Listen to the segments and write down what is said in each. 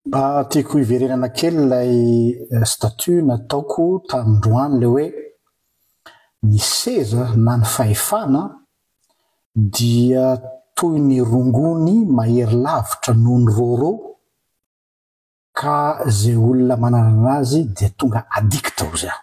Mba tiako hiverenana kely ilay statut nataoko tamindroany ilay hoe ny seza na ny fahefana dia toy ny rongony mahery lavitra noho ny rôrô ka izay olona mananana azy dia tonga addict hozy aho.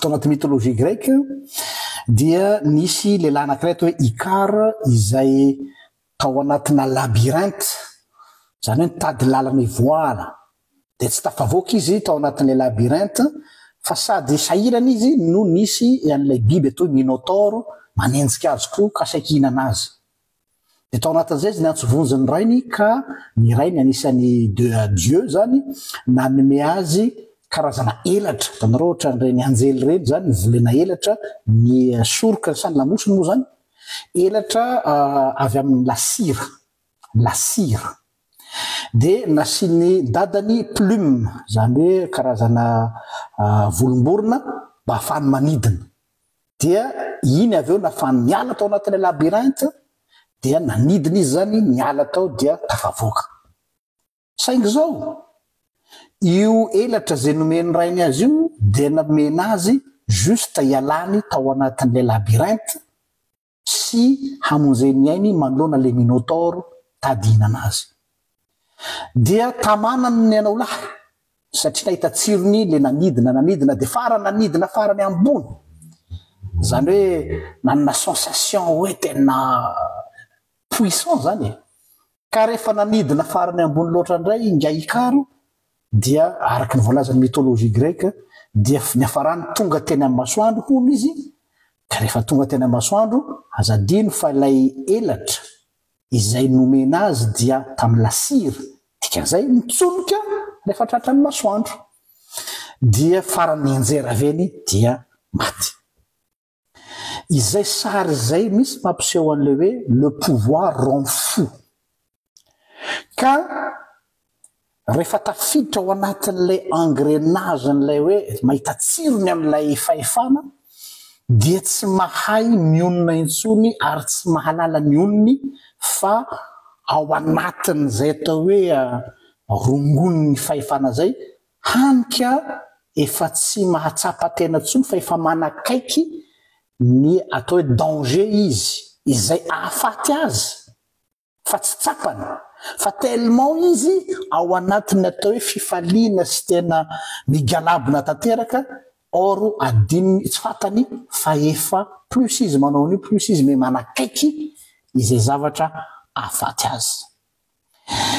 tao anaty mythologie grecque dia nisy lehilahy anankiray atao hoe Icar izay tao anatina labyrinthe, izany hoe nitady lalana hivoahana. Dia tsy tafavoaka izy tao anatin'ilay labyrinthe fa sady sahirana izy no nisy an'ilay biby atao hoe Minotaure manenjika azy koa ka saiky hihinana azy. Dia tao anatin'izay izy niantso vonjy ny rainy ka ny rainy anisan'ny de Dieu izany nanome azy karazana elatra. Hitanareo ohatran'ireny anjely ireny izany mivolena elatra ny soroka sa ny lamosiny moa izany? Elatra avy amin'ny lasira, lasira. Dia nasian'ny dadany plume, izany hoe karazana volomborona mba hahafahany manidina. dia iny avy eo nafahany niala tao anatin'ilay labyrinthe dia nanidina izy zany niala tao dia tafavoaka saingy izao io elatra izay nomen'ny rainy azy io dia nomena azy juste ialany tao anatin'ilay labyrinthe sy hamonjeny ny ainy manoloana ilay Minôtaoro tady hihinana azy. Dia tamanany ny anao lahy, satria nahita tsirony ilay nanidina, nanidina dia farany nanidina farany ambony. Izany hoe nanana sensation hoe tena puissant izany e. Ka rehefa nanidina farany ambony loatra indray ingahy Ikaro dia araka ny voalazan'ny mythologie grecque dia niafarany tonga teny amin'ny masoandro hono izy ka rehefa tonga teny amin'ny masoandro aza adino fa ilay elatra izay nomena azy dia tamin'ny lasira dikan'izay mitsonika rehefa tratran'ny masoandro dia farany nianjera avy eny dia maty Izay sary izay mihitsy mampiseho an'ilay hoe le pouvoir rend fou. Ka rehefa tafiditra ao anatin'ilay engrenage-n'ilay hoe mahita tsirony amin'ilay fahefana dia tsy mahay mionona intsony ary tsy mahalala ny onony fa ao anatin'izay atao hoe rongon'ny fahefana izay Hany ka efa tsy mahatsapa tena intsony fa efa manakaiky ny atao hoe danger izy izay ahafaty azy fa tsy tsapany fa tellement izy ao anatin'ny atao hoe fifaliana sy tena migalabona tanteraka or adinony tsy fantany fa efa plus izy manao an'io plus izy me manakaiky izay zavatra ahafaty azy.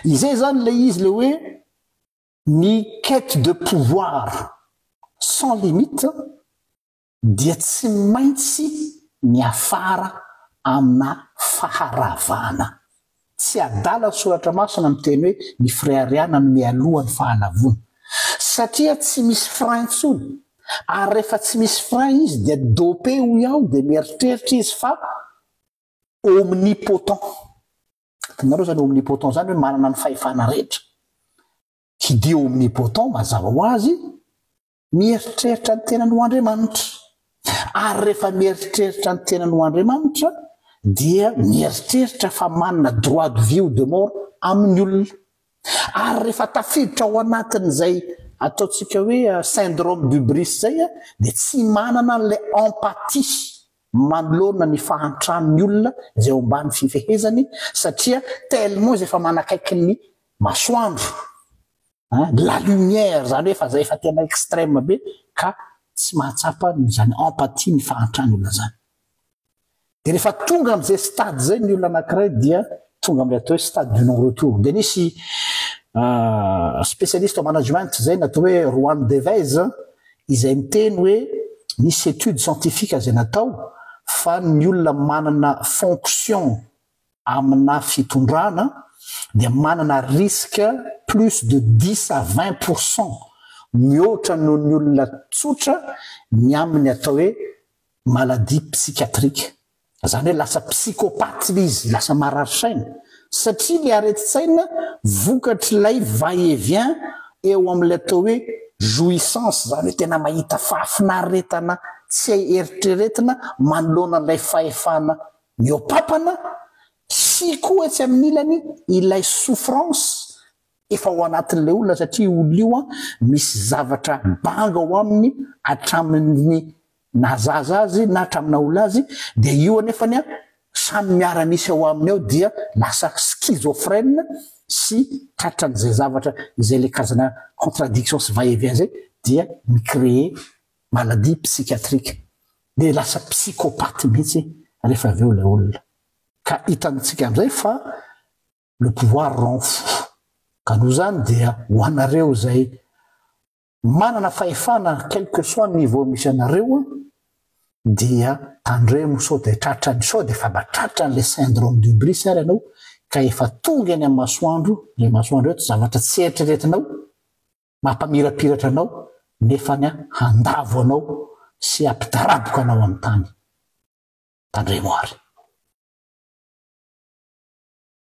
Izay izany ilay izy ilay hoe Ny quête de pouvoir sans limite dia tsy maintsy miafara amina faharavana. Tsy adala ny soratra masina miteny hoe ny firehariana no mialoha ny fahalavoana. Satria tsy misy frein intsony. Ary rehefa tsy misy frein izy dia dopé hoy aho dia mieritreritra izy fa omnipotent. Hitanareo izany omnipotent izany hoe manana ny fahefana rehetra. Tsy dia omnipotent mazava ho azy, mieritreritra ny tenany ho Andriamanitra. Ary rehefa mieritreritra ny tenany ho Andriamanitra dia mieritreritra fa manana droit de vie ou de mort amin'ny olona. Ary rehefa tafiditra ao anatin'izay ataontsika hoe euh, syndrome d'hubris izay, dia tsy manana an'ilay empathie manoloana ny fahantrany ny olona izay ao ambany fifehezany satria tellement izy efa manakaiky ny masoandro an, la lumière izany hoe fa izay efa tena extrême be ka tsy mahatsapa izany empathie ny fahantrany olona izany. Dia rehefa tonga amin'izay stade izay ny olona anankiray dia tonga amin'ilay atao hoe stade du non retour. Dia nisy spécialiste en management izay natao hoe Juan Deves izay miteny hoe misy étude scientifique izay natao fa ny olona manana fonction amina fitondrana dia manana risque plus de dix à vingt pour cent mihoatra noho ny olona tsotra ny amin'ny atao hoe maladie psychiatrique. Izany hoe lasa psychopathe ilay izy, lasa marary saina, satria ilay aretin-tsaina vokatr'ilay va et vient eo amin'ilay atao hoe jouissance, izany hoe tena mahita fahafinaretana tsy hay eritreretina manoloana an'ilay fahefana mihoapapana sy koa etsy amin'ny ilany ilay souffrance efa ao anatin'ilay olona satria io olona io an, misy zavatra banga ao aminy hatramin'ny na zaza azy na hatramin'aola azy dia io anefany an samy miara-misy ao aminy ao dia lasa schizophrène sy tratran'izay zavatra izay ilay karazana contradiction sy va et vient izay dia mi-créer maladie psychiatrique dia lasa psychopathe mihitsy rehefa avy eo ilay olona ka hitantsika amin'izay fa le pouvoir rend fou ka noho izany dia ho anareo izay Manana fahefana quel que soit ny niveau misy anareo dia tandremo sao dia tratran'ny sao dia efa mba tratran'ilay syndrome d'hubris ary ianao ka efa tonga eny amin'ny masoandro, ilay masoandro eto zavatra tsy eritreretinao, mampamirapiratra anao nefany handavo anao sy hampidaraboka anao amin'ny tany. Tandremo ary.